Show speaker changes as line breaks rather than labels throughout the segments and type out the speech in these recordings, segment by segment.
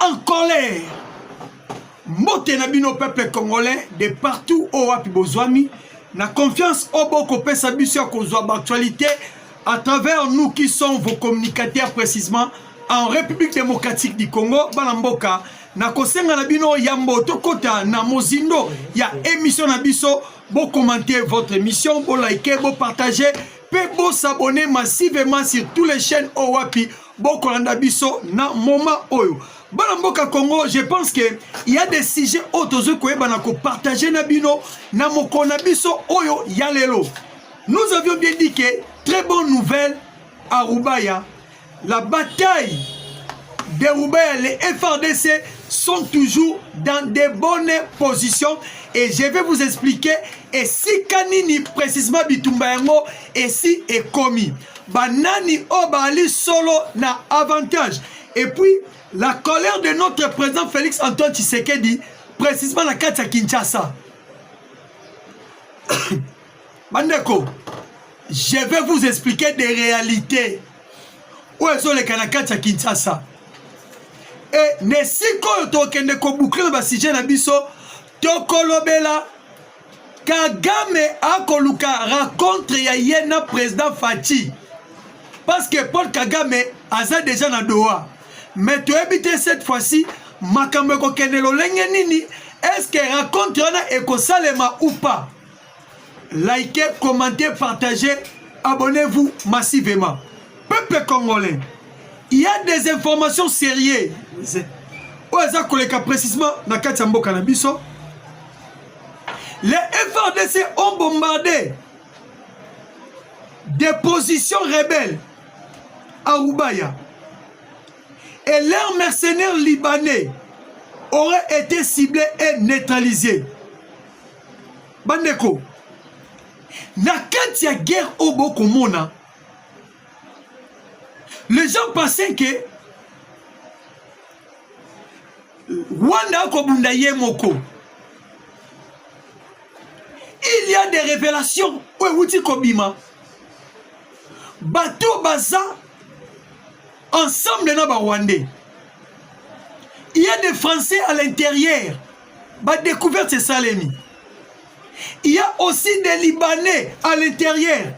en colère mbote na bino peuple congolais de partout oyo wapi bozwami na confiance oyo bokopesa biso ya kozwa baactualité à travers nous qui sont vos communicateurs précisément en république démocratique du congo bana mboka nakosenga na bino yambo tokɔta na mozindo ya émission na biso bokommente votre émission bolike bopartage mpe bosabone massivement sur tous les chaînes oyo wapi bokolanda biso na moment oyo bana mboka congo je pense que il y a des sujets oyo tozwi koyebana kopartage na bino na mokolo na biso oyo ya lelo nous avions bien dit que très bonne nouvelle à rubaya la bataille de rubaya les frdc sont toujours dans de bonnes positions et je vais vous expliquer esika nini précisément bitumba yango esi ekomi banani oyo baali solo na avantage et puis la colère de notre président félix antoine tshisekedi précisément na kati ya kinshasa bandeko je vais vous expliquer des réalités oyo ezoleka na kati ya kinshasa e na esika oyo tokende kobukle na basujet na biso tokolobela kagame akoluka rencontre ya ye na président faci parce que paul kagame aza déjà na doha mais toyebi te cette fois-ci makambo ekokende lolenge nini est-ce que rencontre wana ekosalema ou pas likez commentez partagez abonnez-vous massivement peuple congolais il y a des informations sérieuses oyo eza koleka précisement na kati ya mboka na biso Les FRDC ont bombardé des positions rebelles à Roubaya. Et leurs mercenaires libanais auraient été ciblés et neutralisés. Bandeko, na kati ya guerre oyo bokomona les gens pensaient que Rwanda akobunda ye moko il y a des révélations oyo euti kobima bato baza ensemble na barwandais il y a des français à l'intérieur badécouverte esalemi il y a aussi des libanais à l'intérieur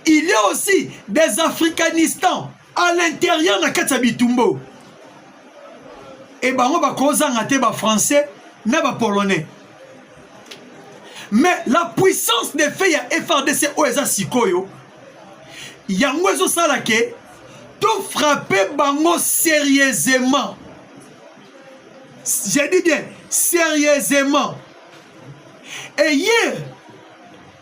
il y a aussi des africanistans à l'intérieur na kati ya bitumbo e bango bakozanga te bafrançais na bapolonais mais la puissance de fait ya frdc oyo eza sikoyo yango ezosala ke tofrappe bango sérieusement je dis bien sérieusement eye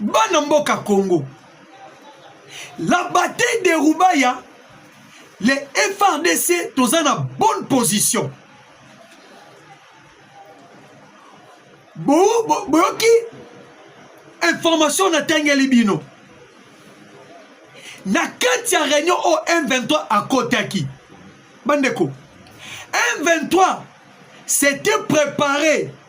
bana mboka congo la bataille de rubaya le frdc toza na bonne position boyoki bo, bo, information natangeli bino na kati ya réunion oyo m23 akotaki bandeko m23 s'était préparé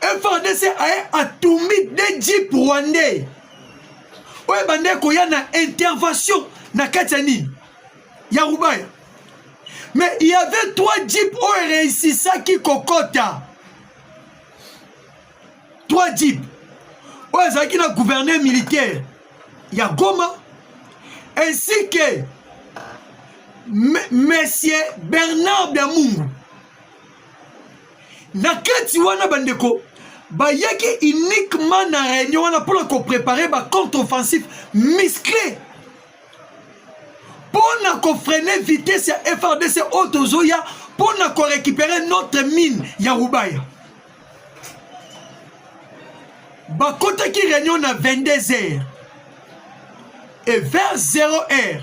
FRDC aye atumbi de jeep rwandais oyo ebandaki koya na intervention na kati ya nini ya rubaya mais il y avait trois jeep oyo ereisisaki kokota trois jeep oyo ezalaki na gouverneur militaire ya goma ainsi que monsieur bernard damungu na kati wana bandeko bayaki uniquement na réunion wana mpona koprépare ba contre offensif musclé mpo na kofrene vitesse ya frdc oyo tozoya mpo na korécupere notre mine ya rubaya bakotaki réunion na 22 heures et vers 0 heure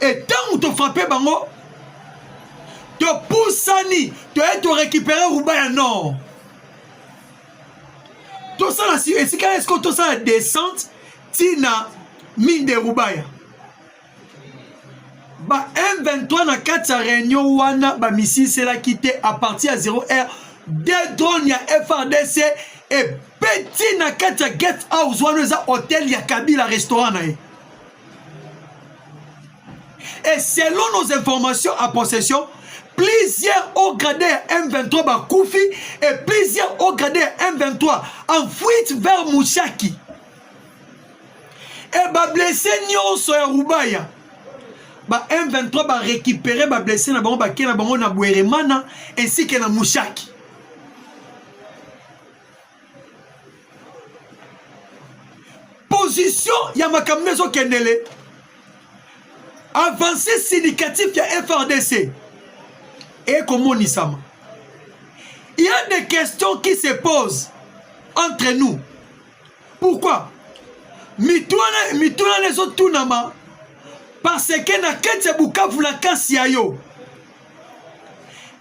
e ntango tofrape bango topusani toye torekipere ruba ya nord tosala esika esiko tosala descente ntina mine de rubaya ba m23 na kati ya réunion wana bamisiselaki te à partir ya 0 heure de drone ya frdc ebeti na kati ya guest house wana eza hotel ya kabila restaurant na ye et selon nos informations à possession plusieurs hauts gradés ya M23 bakufi et plusieurs hauts gradés ya M23 en fuite vers Mushaki et bablesse nyonso ya Rubaya ba M23 barécupere bablesse na bango bakei na bango na Bweremana ainsi que na Mushaki position ya makambo nde ezokendele avance syndicatif ya frdc ekomonisama il y a des questions qui se posent entre nous pourquoi mituna mituna na ezotunama parce que na kati ya bukavu na kasi ya yo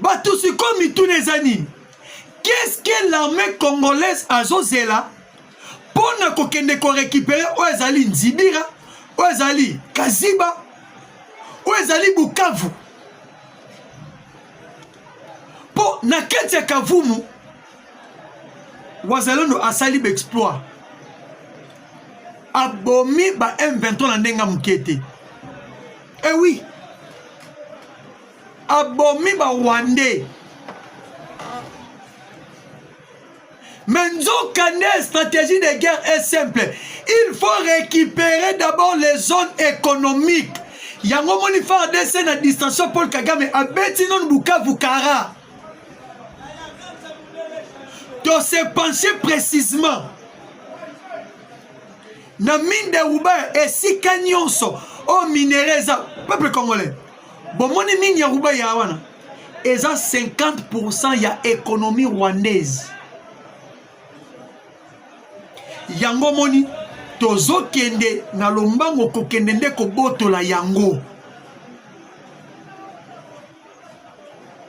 bato sikoyo mituna eza nini qu'est-ce que l'armée congolaise azozela mpo na kokende korekipere oyo ezali nzibira oyo ezali kaziba oyo ezali bukavu mpo na kati ya kavumu wazalendo asali baexploit abomi ba m23 na ndenge ya moke te ewi eh oui. abomi ba rwandais mais nzoka nde stratégie de guerre est simple il faut récupérer d'abord les zones économiques yango moni fardc na distraction paul kagame abeti nanu bukavu kara to se pencher précisément na mine de ruba esika nyonso oyo minere eza peuple congolais bomoni nini ya rubaya wana eza 50% ya économie rwandaise yango moni tozokende na lombango kokende nde kobotola yango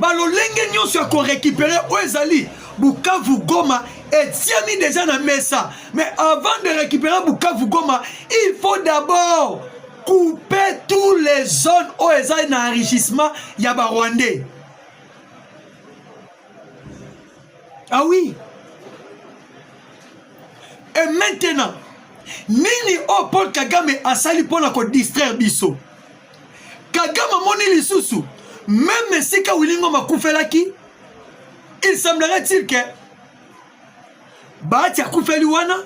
balolenge nyonso ya korekipere oyo ezali bukavu goma etiami deja na mesa mais avant de récupérer bukavu goma il faut d'abord couper tous les zones oyo ezali na enrichissement ya barwandais ah oui et maintenant nini oyo paul kagame asali mpo na kodistraire biso Kagame amoni lisusu meme esika Willy Ngoma akufelaki il semblerait-il que Bahati akufeli wana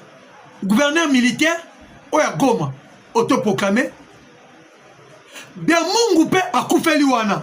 gouverneur militaire oyo ya Goma autoproclame Biamungu mpe akufeli wana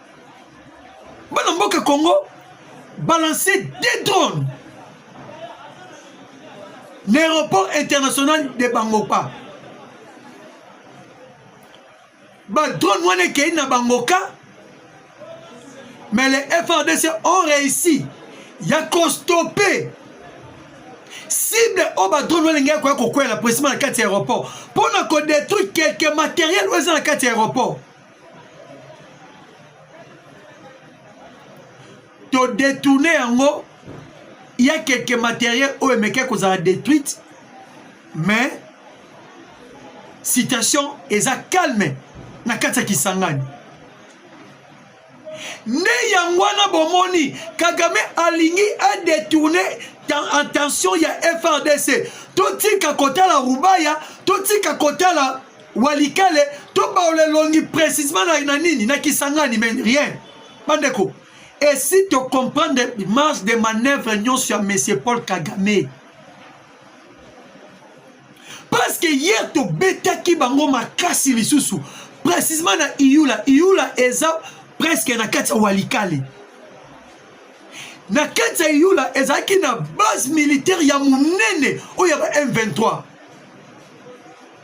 bana mboka congo balancer des drones na aéroport international de bangoka badrone wana ekei na bangoka mais les frdc ont réussi ya kostope cible oyo badrone wana elingaki koya kokwela presima na kati ya aéroport mpo na kodétruire quelque matériel oyo eza na kati ya aéroport todetourne yango ya keke materiel oyo emekaki kozala détruite mais situation eza calme na kati ya kisangani nde yango wana bomoni kagame alingi adetourne attention ya frdc totika kotala rubaya totika kotala walikale to baola elongi précisement na, na nini na kisangani mais rien bandeko esi tocomprendre marge de manœuvre nyonso ya monsieur paul kagame parce que hier tobetaki bango makasi lisusu précisement na iyula iyula eza presque na kati ya walikale na kati ya iyula ezalaki na base militaire ya monene oyo ya ba m23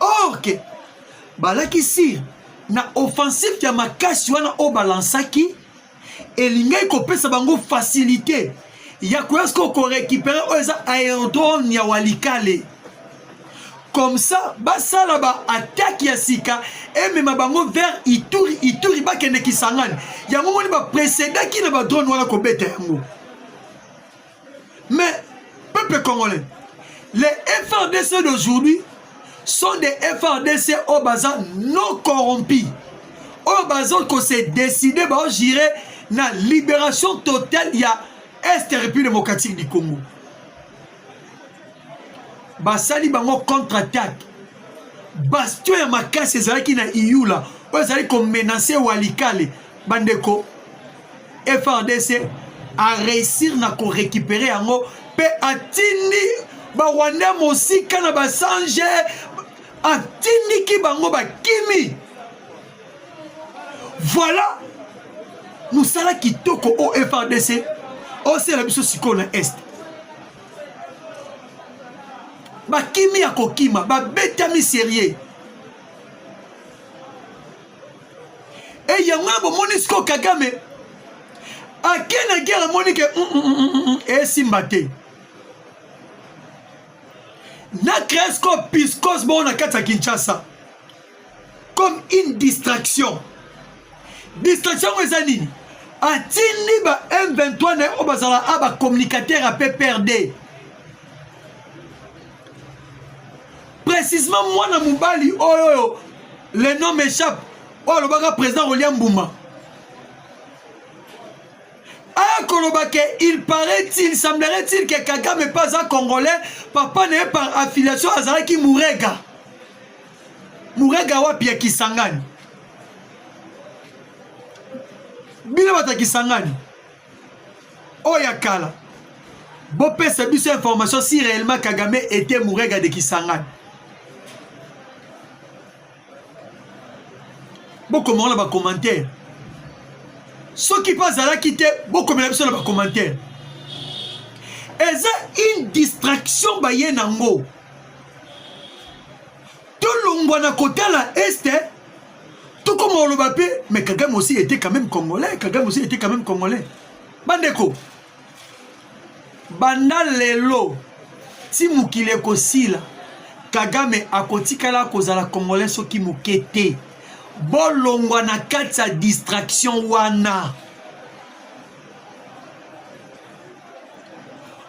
or ke balakisi na offensive ya makasi wana oyo balansaki elingaki kopesa bango facilité ya koya sikoyo korekipere oyo eza aerodrome ya walikale comme ça basala baattake ya sika emema bango vers ituri ituri bakende kisangani yango moni bapresedaki na badrone wana kobeta yango Mais, peuple congolais, les FRDC d'aujourd'hui sont des FRDC au bazar non corrompus. Au bazar qu'on s'est décidé, bah, j'irai la libération totale, il y a Est République démocratique du Congo. basali bango contre attaque bastion ya makasi ezalaki na iyula oyo ezali komenase walikale bandeko FRDC a réussir na ko récupérer yango pe atindi ba Rwandais mosika na ba sange atindiki bango bakimi voilà mosala kitoko o FRDC osela biso sikoyo na est bakimi ya kokima babetami serie e yango na bomoni siko kagame ake na guerre amoni ke mm, mm, mm, esimba te na cresco piscos bongo na kati ya kinshasa comme une distraction distraction yango eza nini atindi ba m23 na ye oyo bazala a bacommunicateur ya pprd précisement mwana mobali oyo oyo le nom m'échappe oyo alobaka président rolia mbuma akoloba ke il paraît-il semblerait-il ke kagame mpe aza congolais papa na ye par affiliation azalaki murega murega wapi ya kisangani bino bato ya kisangani oyo ya kala bopesa biso information si réellement kagame était mourega de kisangani bokomaka na bacommentaire soki mpe azalaki te bokomela biso na bacommentaire eza une distraction baye nango tolongwa na kotala este tokoma oloba mpe mais kagame aussi était quand même congolais kagame aussi était quand même congolais bandeko banda lelo ti mokili ekosila kagame akotikala kozala congolais soki moke te bolongwa na kati ya distraction wana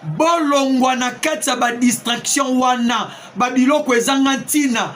bolongwa na kati ya badistraction wana babiloko ezanga ntina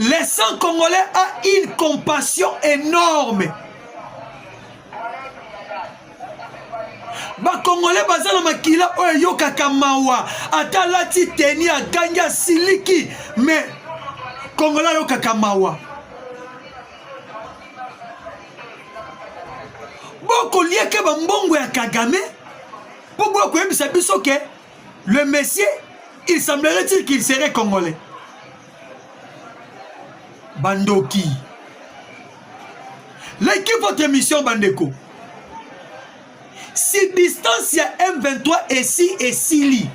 Les sang congolais a une compassion énorme. bakongole baza na makila oyo eyokaka mawa ata alati teni agangi asiliki me kongola ayokaka mawa bokolieke bambongo ya kagame mpo boya koyebisa biso ke Le monsieur, il semblerait-il qu'il serait congolais. Bandoki. Likez votre émission, Bandeko. Si distance ya M23 esi esili,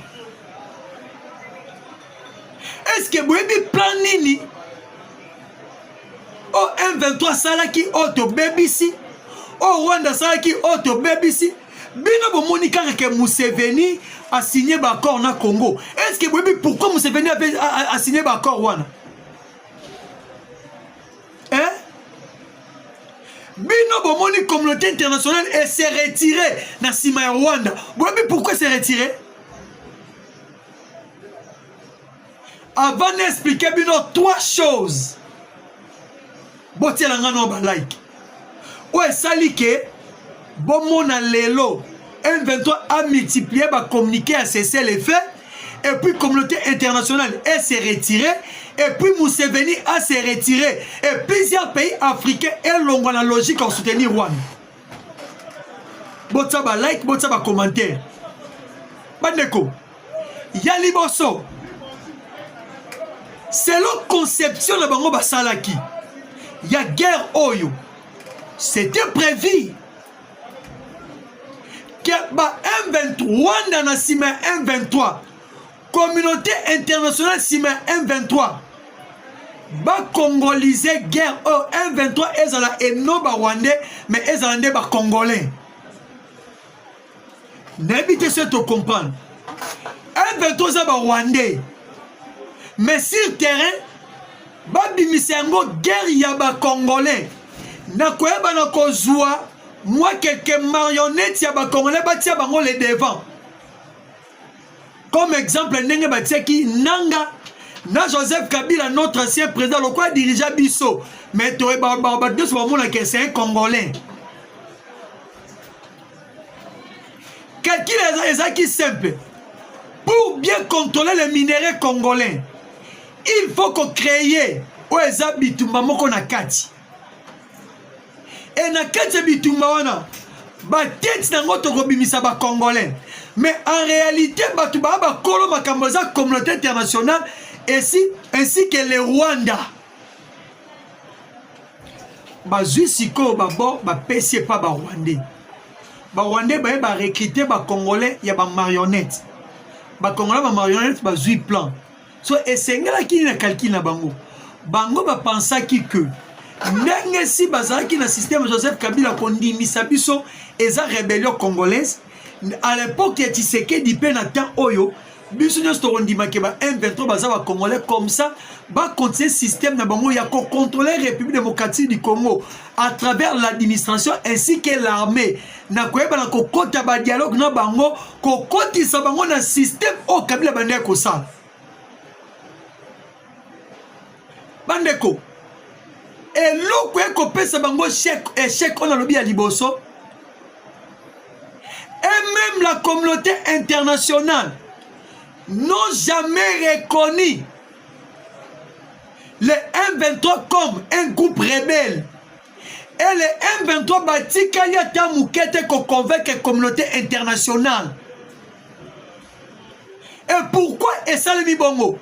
est-ce que boyebi plan nini o oh, M23 asalaki oyo oh, tobebisi oyo oh, Rwanda asalaki oyo tobebisi bino bomoni kaka ke museveni asigne baaccord na congo est ce que boyebi pourquoi museveni asigne baaccord wana eh? bino bomoni communauté internationale ese retire na nsima ya rwanda boyebi pourquoi ese retire avant na explike bino trois choses botiela nga no balike oyo esali ke bomona lelo M23 a multiplié ba communiqué à cesser les faits et puis communauté internationale est se retirer et puis Museveni a se retirer et plusieurs pays africains elongwa na logique en soutenir Rwanda botya ba like botya ba commentaire bandeko ya liboso selon conception na bango basalaki ya guerre oyo c'était prévu que ba M23 wanda na nsima ya M23 Communauté internationale nsima ya M23 bakongolise guerre oyo oh, M23 ezala eno barwandais me ezala nde bacongolais nayebi te se tocomprendre M23 eza barwandais mais sur terrain babimisa yango guerre ya bacongolais na koyeba na kozwa mwa keke marionnette ya bacongolais batia bango le devant comme exemple ndenge batiaki nanga na joseph kabila notre ancien président lokola dirigea biso mais toye bato nyonso bamonaka c'est un congolais calcul ezalaki simple pour bien contrôler les minerais congolais il faut kocréer oyo eza bitumba moko na kati e na kati ya bitumba wana batete na yango tokobimisa bacongolais mais en réalité bato baa bakolo makambo eza communauté internationale esi ainsi que le rwanda bazwi sikoyo babo bapesi epa barwandais barwandais baye barekrite bacongolais ya bamarionnettes bakongolais bamarionnette bazwi plan so esengelaki nini na calcul na bango bango bapansaki que ndenge si bazalaki na systeme joseph kabila kondimisa biso eza rebellion congolaise à l'époque ya tshisekedi mpe na temps oyo biso nyonso tokondimake ba m23 baza bacongolais comme ça bacontinue systeme na bango ya kocontrole république démocratique du congo à travers l'administration ainsi que l'armée na koyeba na kokota ba dialogue na bango kokotisa bango na système oyo kabila bande ya kosala bandeko eloko ekopesa bango echec oyo nalobi ya liboso et même la communauté internationale n'ont jamais reconnu le M23 comme un groupe rebelle et le M23 batikali ata moke te koconvaincre communauté internationale et pourquoi esalemi bongo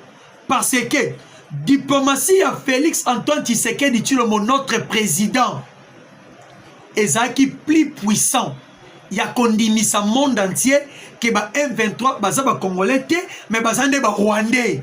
parce que diplomatie ya félix antoine tshisekedi tshilombo notre président ezalaki plus puissant ya kondimisa monde entier ke ba m23 baza bacongolais te mais baza nde barwandais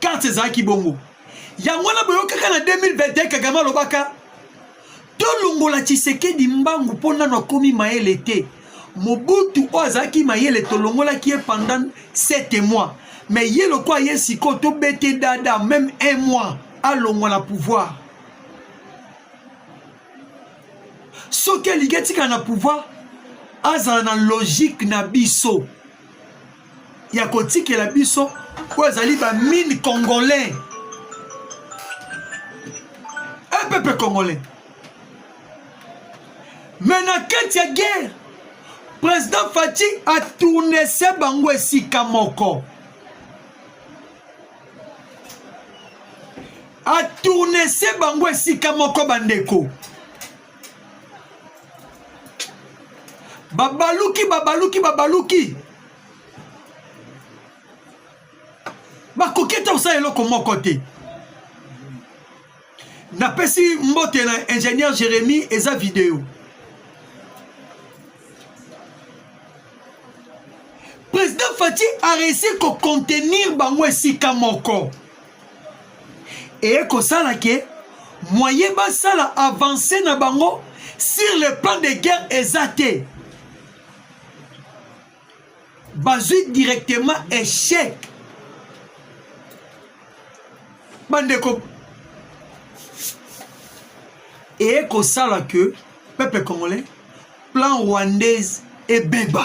karte ezalaki bongo yango wana boyokaka na 2021 kagame alobaka tolongola tshisekedi mbangu mpo nano akomi mayele te mobutu oyo azalaki mayele tolongolaki ye pendant 7 mois me ye lokola ye sikoyo tobete dada meme un mois alongwa na pouvoir soki alingi etikala na pouvoir azala na logique na biso ya kotikela biso oyo ezali bamine congolais un peuple congolais me na kati ya guerre président faci atournese bango esika moko atournese bango esika moko bandeko babaluki babaluki babaluki bakoki ata kosala eloko moko te napesi mbote na ingénieur jérémi eza video président fati areussi kocontenir bango esika moko eye kosala ke moyen basala avance na bango sur le plan de guerre eza te bazwi directement échec bandeko eye kosala ke peuple congolais plan rwandaise ebeba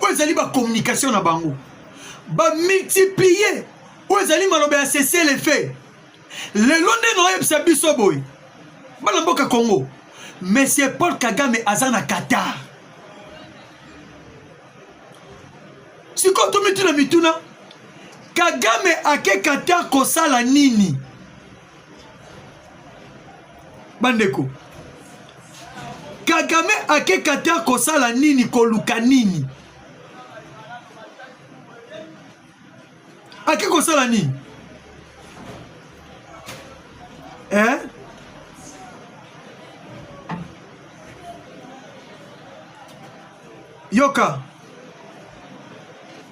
oyo ezali bacommunication na bango bamultiplie oyo ezali maloba ya sese le fait lelo nde naoyebisa biso boye bana mboka congo monsieur paul kagame aza na qatar sikoyo tomituna mituna kagame ake qatar kosala nini bandeko kagame akeka te akosala nini koluka nini ake kosala nini eh? yoka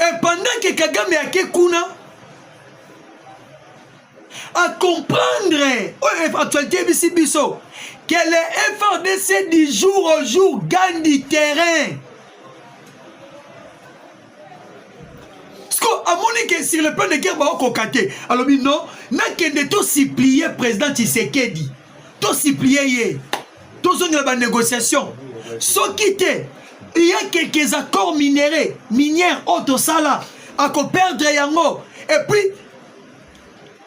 et pendant que kagame ake kuna acomprendre oyo actualité ebisi biso que le frdc du jour au jour gagne du terrain siko amoni ke sur le plan de guerre baokoka te alobi non nakende to supplie président tshisekedi to supplie ye tozongela ba négociation soki te il y a quelques accords minéraux minière oyo tosala akoperdre yango et puis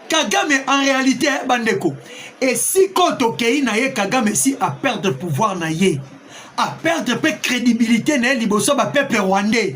kagame en réalité bandeko esika oyo tokei na ye kagame si aperdre pouvoir na ye aperdre mpe crédibilité na ye liboso bapeuple rwandais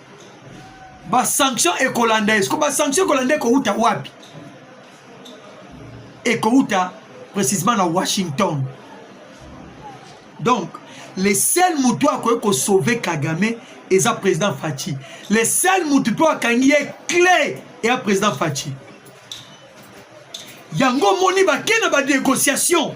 ba sanction ekolanda esko ba sanction ekolanda ekowuta wapi ekowuta précisément na washington donc le seul motu akoki kosauve kagame eza président faci le seul motu mpe akangi ye cle eya président faci yango omoni bake na banégociation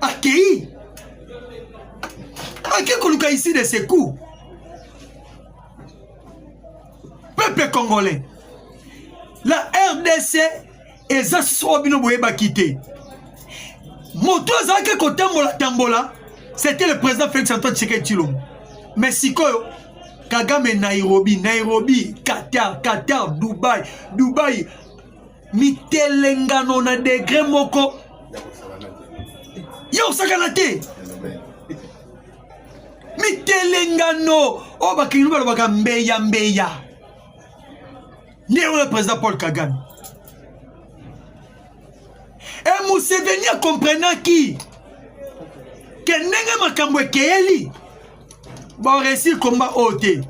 akei ake koluka ici de secours peuple congolais la rdc eza soa bino boyebaki te moto azalaki kotambola tambola c'était le président félix antoine tshisekedi tshilombo mais sikoyo kagame nairobi nairobi qatar qatar dubai dubai mitelengano na degre moko ya kosakana te mitelengano oyo bakilinu balobaka mbeya mbeya nde oyo président paul kagame e museveni akomprenaki ke ndenge makambo ekeyeli boresir combat oyo te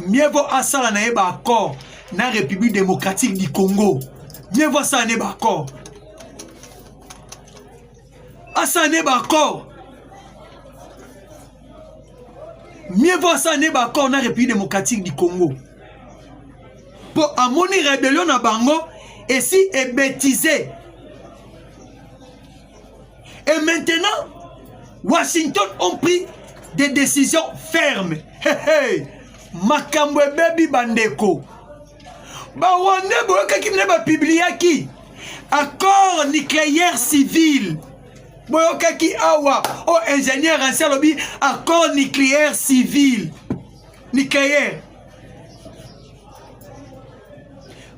mieux vaut asala na ye baaccord na république démocratique du congo mieux vaut asala na ye baaccord asala na ye baaccord mieux vaut asala na ye baaccord na république démocratique du congo mpo amoni rebellion na bango esi ebetize Et maintenant, Washington ont pris des décisions fermes. Hey, hey. makambo ebebi bandeko barwandais boyokaki mine bapibliaki accord nucléaire civil boyokaki awa o oh, ingénieur ansi alobi accord nucléaire civil nucléaire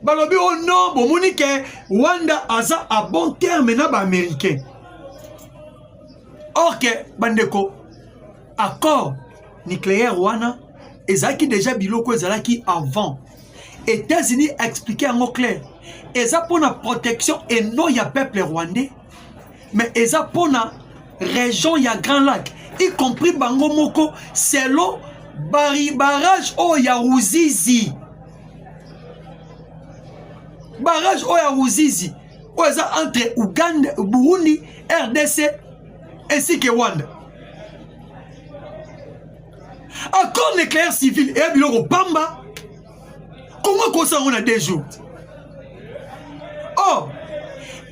balobi o oh non bomoni ke rwanda aza a bon terme na baaméricain or ke bandeko accord nucléaire wana ezalaki deja biloko ezalaki avant états-unis explike yango claire eza mpo na protection et non ya peuple rwandais mais eza pona région ya grand lac y compris bango moko selon bari barrage oyo ya ruzizi barrage oyo ya ruzizi oyo eza entre uganda burundi rdc ainsi que rwanda accord nucléaire civil eya biloko pamba kongo ekosa yango na deux jours or oh,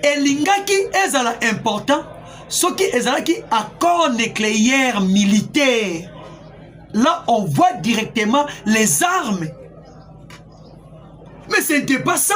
elingaki ezala important soki ezalaki accord nucléaire militaire là on voit directement les armes mais ce n'était pas ça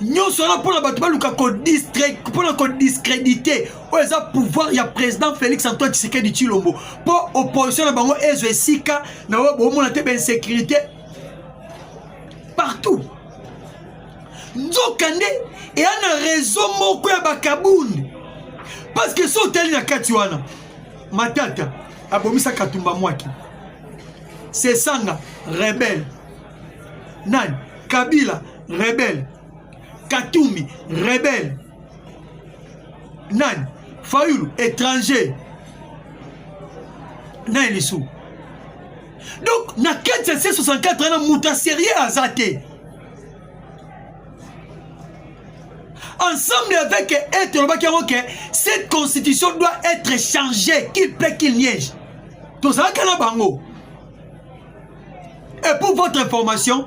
nyonso wana mpona bato baluka mpona kodiscredite oyo eza pouvoir ya président félix antoine tshisekedi tshilombo mpo opposition na bango ezwa esika na oyo bomona te bainsécurité partout nzoka nde eya na réseau moko ya bakabund parce que so otali na kati wana matata abomisa katumba mwaki sesanga rebelle nani kabila rebele katumbi rebele nani fayulu étranger nani lisusu donc na kati ya c64 wana moto ya serieux aza te ensemble avec être olobaki yango ke cette constitution doit être changée qu'il peut qu'il niège tozalaka na bango Et pour votre information,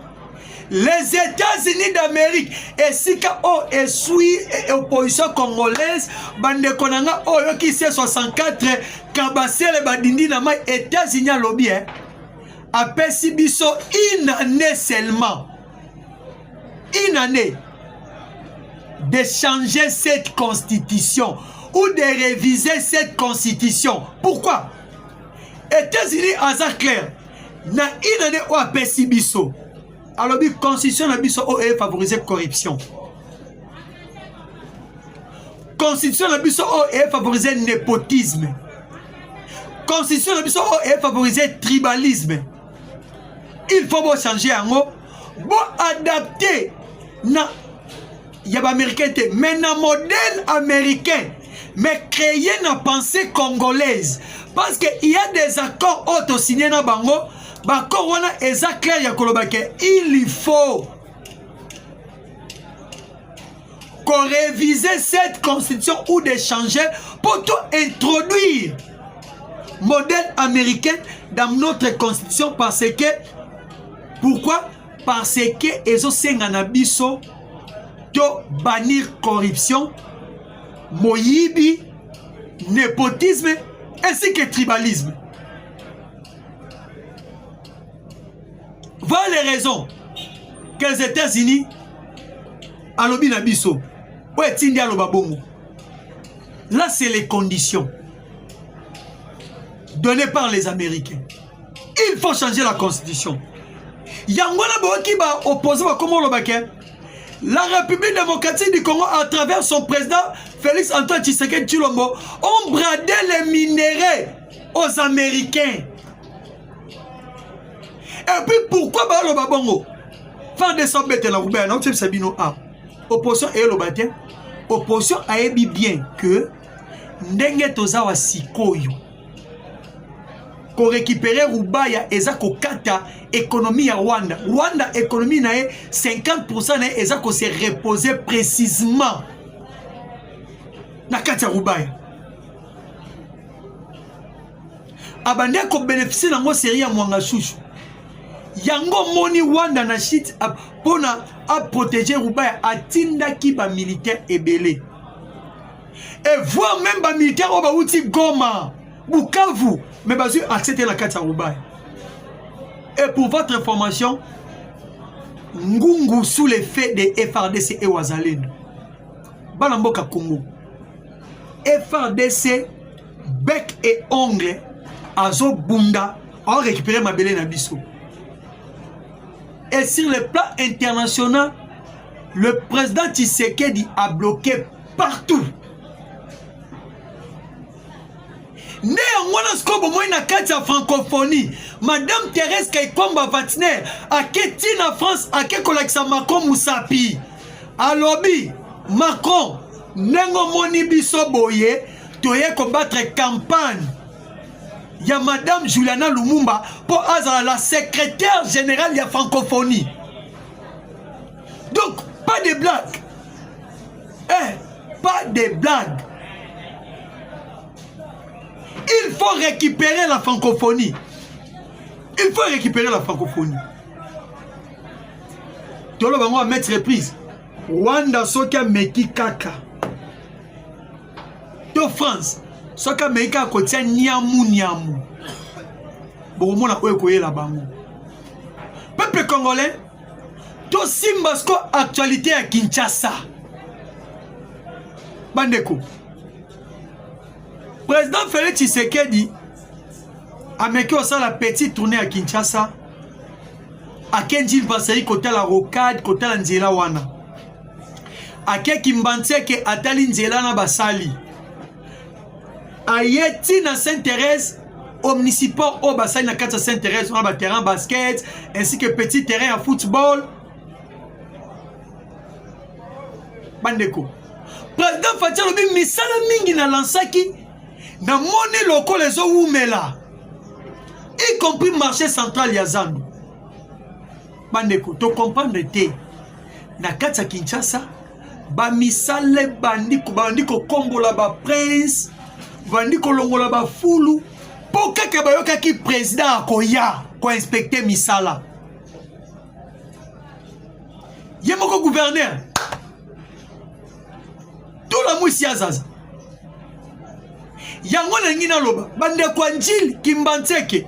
les États-Unis d'Amérique esika oyo oh, eswi eh, opposition congolaise bandeko na nga oyo oh, kisi 64 kabasele badindi na mai États-Unis alobi eh, apesi biso une année seulement une année de changer cette constitution ou de réviser cette constitution pourquoi Etats-Unis aza clair na une année oyo apesi biso alobi constitution na biso oyo efavorise corruption constitution na biso oyo efavorise nepotisme constitution na biso oyo efavorise tribalisme il faut bochange yango boadapte na ya ba américain te mais na modèle américain mais créé na pensée congolaise parce que il y a des accords oyo tosigne na bango baccord wana eza claire ya koloba ke il faut koreviser cette constitution ou de changer pour to introduire modèle américain dans notre constitution parce que pourquoi parce que ezosenga na biso to bannir corruption moyibi nepotisme ainsi que tribalisme voilà les raisons que les états-unis alobi na biso oyo etindi aloba bongo là c'est les conditions données par les américains il faut changer la constitution yango wana boyoki ba opposant bakoma oloba ke la république démocratique du congo à travers son président félix antoine tshisekedi tshilombo ont bradé les minerais aux américains et puis pourquoi baloba bongo far de sobetela kubela na kotyebisa bino a opposition eloba te opposition ayebi bien que ndenge toza wa sikoyo korekipere rubaya eza kokata ekonomi ya rwanda rwanda ekonomi na ye 50 na ye eza kose repose précisement na kati ya rubaya abandi akobenefisie nango serie ya mwanga shushu yango moni rwanda na shit mpo na aprotege rubaya atindaki bamilitaire ebele et voir même ba militaires oyo bawuti Goma Bukavu mais bazwi accès te na kati ya Rubai et pour votre information Ngungu sous l'effet de FRDC et Wazalendo bana mboka Congo FRDC bec et ongle azobunda aorécupere mabele na biso et sur le plan international le président Tshisekedi a bloqué partout nde yango wana sikoyo bomoi na kati ya francophonie madame therese kaikwamba vatiner ake ti na france ake kolakisa macron mosapi alobi macron ndenge omoni biso boye toye kobattre campagne ya madame juliana lumumba mpo azala la secrétaire générale ya francophonie donc pas de blague Eh, pas de blague. Il faut récupérer la francophonie. Il faut récupérer la francophonie. Tolo bango à mettre reprise. Rwanda soki ameki kaka. To France soki ameki kaka kotia niamu niamu. Bokomona oyo ekoyela bango. Peuple congolais tosimba siko actualité ya kinshasa bandeko président félix tshisekedi ameki osala petit tourne ya kinshasa akendi basali kotala rocade kotala nzela wana akeki mbanseke atali nzela na basali aye ti na sainte thérèse omnisiport oyo basali na kati ya sainte thérèse wana baterrain basket ainsi que petit terrain ya football bandeko président fati alobi misala mingi nalansaki namoni lokola ezowumela y compris marché central ya zando bandeko tocomprendre te na kati ya kinshasa bamisala ebandi bandi kokombola baprince bandi kolongola bafulu mpo kaka bayokaki président akoya koinspekte misala ye moko guverner tolamwisi ya zaza yango nalingi naloba bandeko ya njili kimbanseke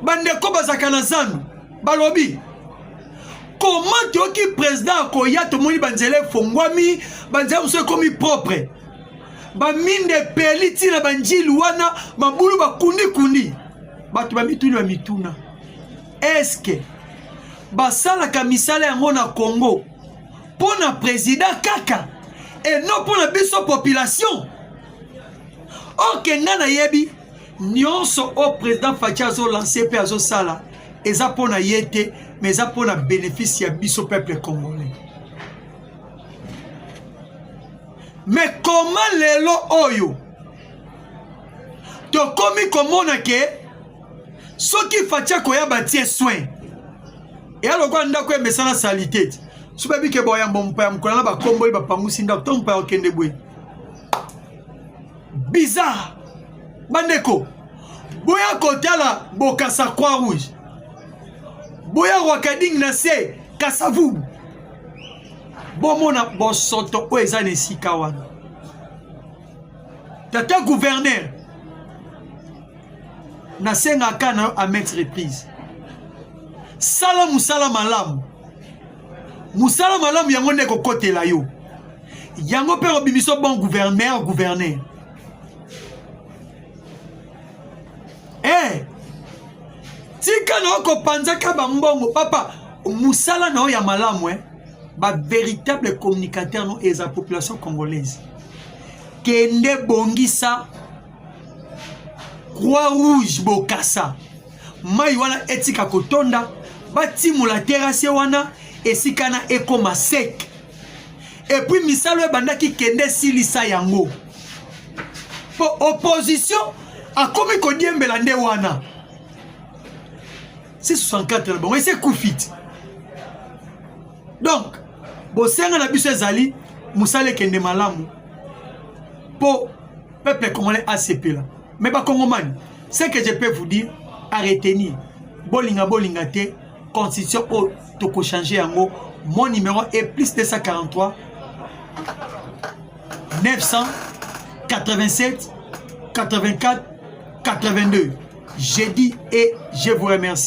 bandeko bazalaka na zando balobi comment toyoki président akoya tomoni banzela efongwami banzela mosusu ekomi propre baminda epeli ntina banjili wana mabulu bakundikundi bato bamituni ya mituna eske basalaka misala yango na congo mpo na président kaka e non mpo na biso population oke ngai nayebi Nionso o president Fatshi azo lancer pe azo sala eza pona yete mais eza pona bénéfice ya biso peuple congolais. Mais comment lelo oyo tokomi komona ke soki Fatshi akoya batie soin eya lokola ndako emesana salite te so bayebi ke boyambo mopaya mokona na bakomboli bapangusi ndako to mopaya okende boye bizarre bandeko boya kotala bokasa croix rouge boya wakading na se kasavubu bomona bosoto oyo eza na esika wana tata guverner nasengaka na yo a maintes reprises sala mosala malamu mosala malamu yango nde ekokotela yo yango mpe obimisa bon gouverneur gouverneur e eh, tika na okopanzaka bambongo papa mosala na yo ya malamu e eh? bavéritable communicateur no eza population congolaise kende bongisa croix rouge bokasa mai wana etika kotonda batimola terase wana esika na ekoma seke epui misala oyo ebandaki kende esilisa yango mpo opposition akomi kodiembela nde wana si 64 na bango esi ekufi ti donc bosenga na biso ezali mosala ekende malamu mpo peuple congolais asepela mais bakongomani ce que je peux vous dire à retenir bolinga bolinga te constitution oyo tokochange yango mon numéro est plus 243 987 84 82 j'ai dit et je vous remercie